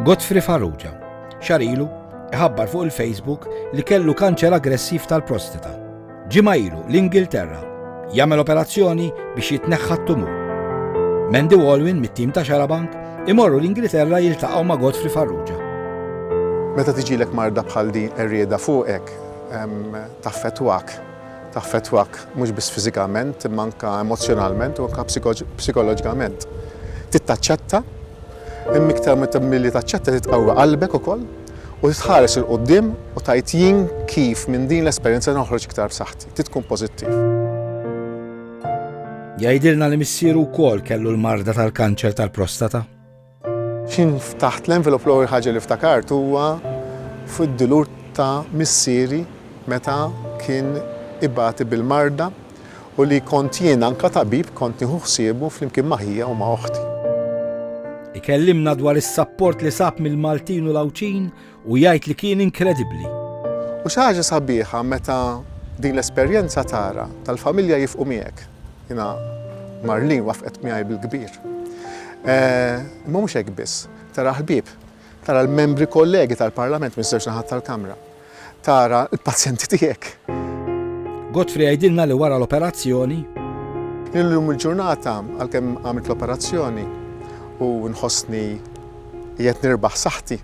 Godfrey Farrugia, xarilu, iħabbar fuq il-Facebook li kellu kanċer aggressiv tal-prostata. Ġimgħa ilu l-Ingilterra jagħmel operazzjoni biex jitneħħa t-tumur. Mendy Walwin mit-tim ta' Xarabank imorru l-Ingilterra jiltaqgħu ma' Godfrey Farrugia. Meta tiġilek marda bħal din errieda fuqek, taffetwak. taffettwak mhux biss fiżikament imma anke emozzjonalment u anke psikoloġikament. Trid taċċetta, imma iktar milli taċċetta trid tqawwi qalbek ukoll u trid tħares 'il quddiem u tgħid jien kif minn din l-esperjenza noħroġ iktar b'saħħti. Trid tkun pożittiv. Jgħidilna li missieru wkoll kellu l-marda tal-kanċer tal-prostata. Kien taħt l-envelop l-ewwel ħaġa li ftakart huwa fuq id-dulur ta' missieri meta kien ibati bil-marda u li kont jien anke tabib kont nieħu ħsiebu flimkien ma' ħija u ma' oħti. Ikellimna dwar is-sapport li sab mill-Maltin u l-Għawdxin u jgħid li kien inkredibbli. U xi ħaġa sabiħa meta din l-esperjenza tara tal-familja jifqu miegħek. Jiena Marlene wafqet miegħi bil-kbir. Eh, imma mhux hekk biss, tara ħbieb, tara l-membri kollegi tal-Parlament minn żewġ naħat tal-Kamra, tara l-pazjenti tiegħek. Godfrey għajdilna li wara l-operazzjoni. Illum il-ġurnata għalkemm għamilt l-operazzjoni u nħossni qiegħed nirbaħ saħħti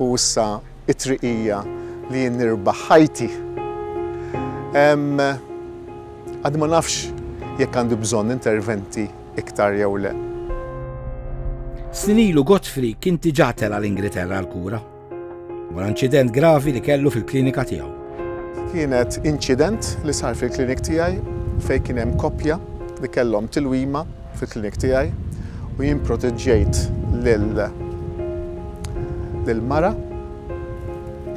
u issa t-triq hija li jien nirbaħ ħajti. Għad ma nafx jekk għandu bżonn interventi iktar jew le. Snin ilu Godfrey kien diġà tela' l-Ingilterra għall-kura. Wara inċident gravi li kellu fil-klinika tiegħu. Kienet inċident li sar fil-klinik tiegħi fejn kien hemm koppja li kellhom tilwima fil-klinik tiegħi u jien proteġġejt lil lill-mara,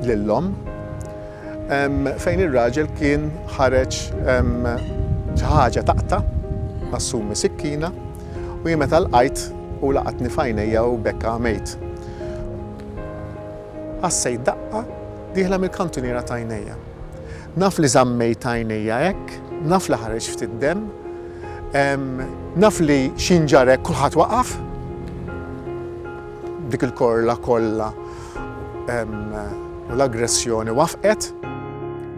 lill-omm, fejn ir-raġel kien ħareġ xi ħaġa taqta' assumi sikkina, U jien meta lqajt, hu laqatni f'għajnejja u b'hekk għamejt. Ħassejt daqqa dieħla mill-kantuniera t'għajnejja. Naf li żammejt għajnejja hekk, naf li ħareġ ftit demm, naf li xi nġarr hekk kulħadd waqaf. Dik il-korla kollha u l-aggressjoni wafqet.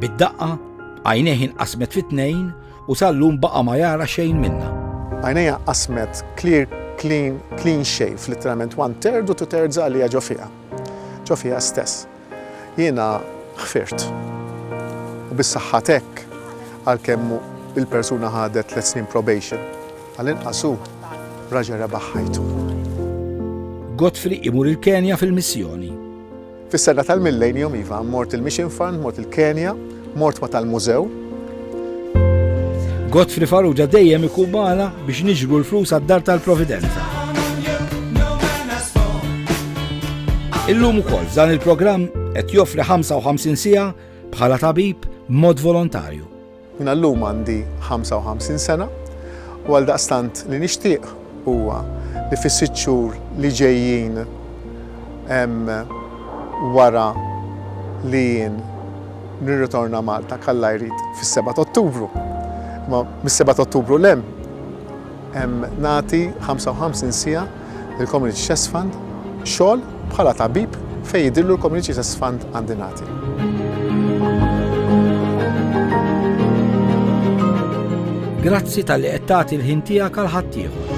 Bid-daqqa, għajnejh inqasmet fi tnejn U sal-lum baqa' ma jara xejn minnha. Għajnejha qasmet clear, clean, clean shave, litteralment one third u two thirds għalija ġo fiha. Ġo fiha stess. Jiena ħfirt. U bis-saħħa t'hekk, għalkemm il-persuna ħadet tliet snin probation, għall-inqas hu raġel rebaħ ħajtu. Godfrey imur il-Kenja fil-missjoni. Fis-sena tal-millennium, iva, mort il-Mission Fund, mort il-Kenja, mort ma tal-mużew. Godfrey Farrugia dejjem ikun magħna biex niġru l-flus għad-dar tal-Providenza. Illum ukoll dan il-programm qed joffri 55 siegħa bħala tabib mod volontarju. Jien għallum għandi 55 sena u għaldaqstant li nixtieq huwa li fis-sitt xhur li ġejjin wara li jien nirritorna Malta kalla jrid fis-seba' t'Ottubru. Imma mis-seba' t'Ottubru 'l hemm Nagħti 55 siegħa lill-Community Chest Fund xogħol bħala tabib fejn jidhirlu l-Community Chest Fund għandi nagħti. Grazzi talli qed tagħti l-ħin tiegħek għal ħaddieħor.